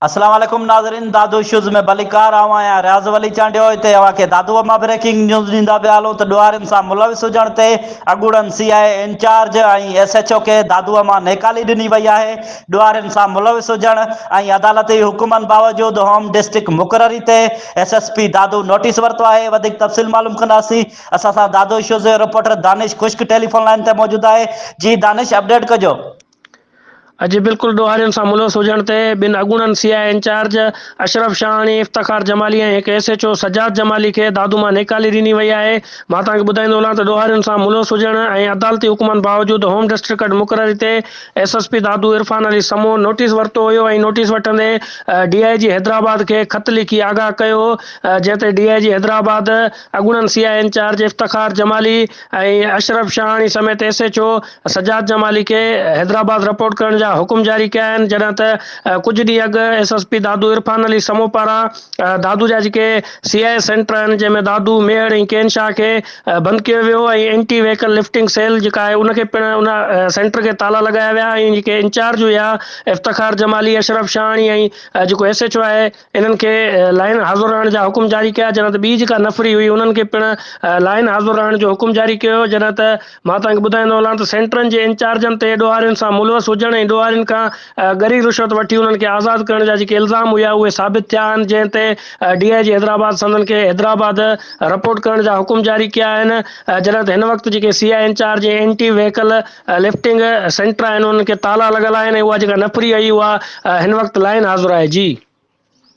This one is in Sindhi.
اسلام عليڪم ناظرين دادو شوز ۾ ڀليڪار آئون آهيان رياض ولي چانڊيو هتي اوهان کي دادو اما بريڪنگ نيوز ڏيندا پيا هلون ته ڏوهارين سان ملوث هجڻ تي اڳوڻن C I A incharge ۽ S H O کي دادو اما نيڪالي ڏني وئي آهي ڏوهارين سان ملوث هجڻ ۽ عدالتي حڪمن باوجود هوم ڊسٽرڪٽ مقرري تي S S P Dadu notice ورتو آهي وڌيڪ تفصيل معلوم ڪنداسي اسان سان دادو شوز جو reporter Danish Khushk telephone line تي موجود آهي جي دانش اپڊيٽ ڪجو. اڄ بلڪل ڏوهارين سان ملوث هجڻ تي ٻن اڳوڻن C I A incharge Ashraf Shahani, Iftikhar Jamali ۽ هڪ S H O Sajjad Jamali کي دادو مان نيڪالي ڏني وئي آهي. مان توهان کي ٻڌائيندو هلان ته ڏوهارين سان ملوث هجڻ ۽ عدالتي حڪمن باوجود هوم ڊسٽرڪٽ مقرري تي S S P Dadu Irfan Ali Samoon notice ورتو هيو ۽ نوٽيس وٺندي ڊي آء جي حيدرآباد کي خط لکي آگاهه ڪيو هو جنهن تي ڊي آء جي حيدرآباد اڳوڻن C I A incharge Iftikhar Jamali ۽ Ashraf Shahani سميت S H O Sajjad Jamali کي حيدرآباد رپورٽ ڪرڻ جا حڪم جاري ڪيا آهن جڏهن ته ڪجهه ڏينهن اڳ S S P Dadu Irfan Ali Samoon پاران دادو جا جيڪي سي آء اي سينٽر آهن جنهن ۾ دادو، ميهڙ ۽ ڪين شاهه کي بند ڪيو ويو ۽ اينٽي ويهيڪل لفٽنگ سيل جيڪا آهي ان کي پڻ ان سينٽر کي تالا لڳايا ويا ۽ جيڪي انچارج هيا افتخار جمالي، اشرف شاهاڻي ۽ جيڪو ايس ايڇ او آهي. انهن کي لائن حاضر رهڻ جا حڪم جاري ڪيا، جڏهن ته ٻي جيڪا نفري هئي انهن کي پڻ لائن حاضر رهڻ جو حڪم جاري ڪيو ويو، جڏهن ته مان توهان کي ٻڌائيندو هلان ته سينٽرن جي انچارجن تي ڏوهارين سان ملوث هجڻ ۽ ڏوهارين کان ڳري رشوت وٺي انهن کي آزاد ڪرڻ جا جيڪي الزام هيا اهي ثابت ٿيا آهن جنهن تي ڊي آء جي حيدرآباد سندن کي حيدرآباد رپورٽ ڪرڻ جا حڪم جاري ڪيا آهن جڏهن ته هن وقت جيڪي C I incharge ۽ anti vehicle lifting centre آهن انهن کي تالا لڳل آهن ۽ اها جيڪا نفري اهي اها هن وقت لائن حاضر آهي جي.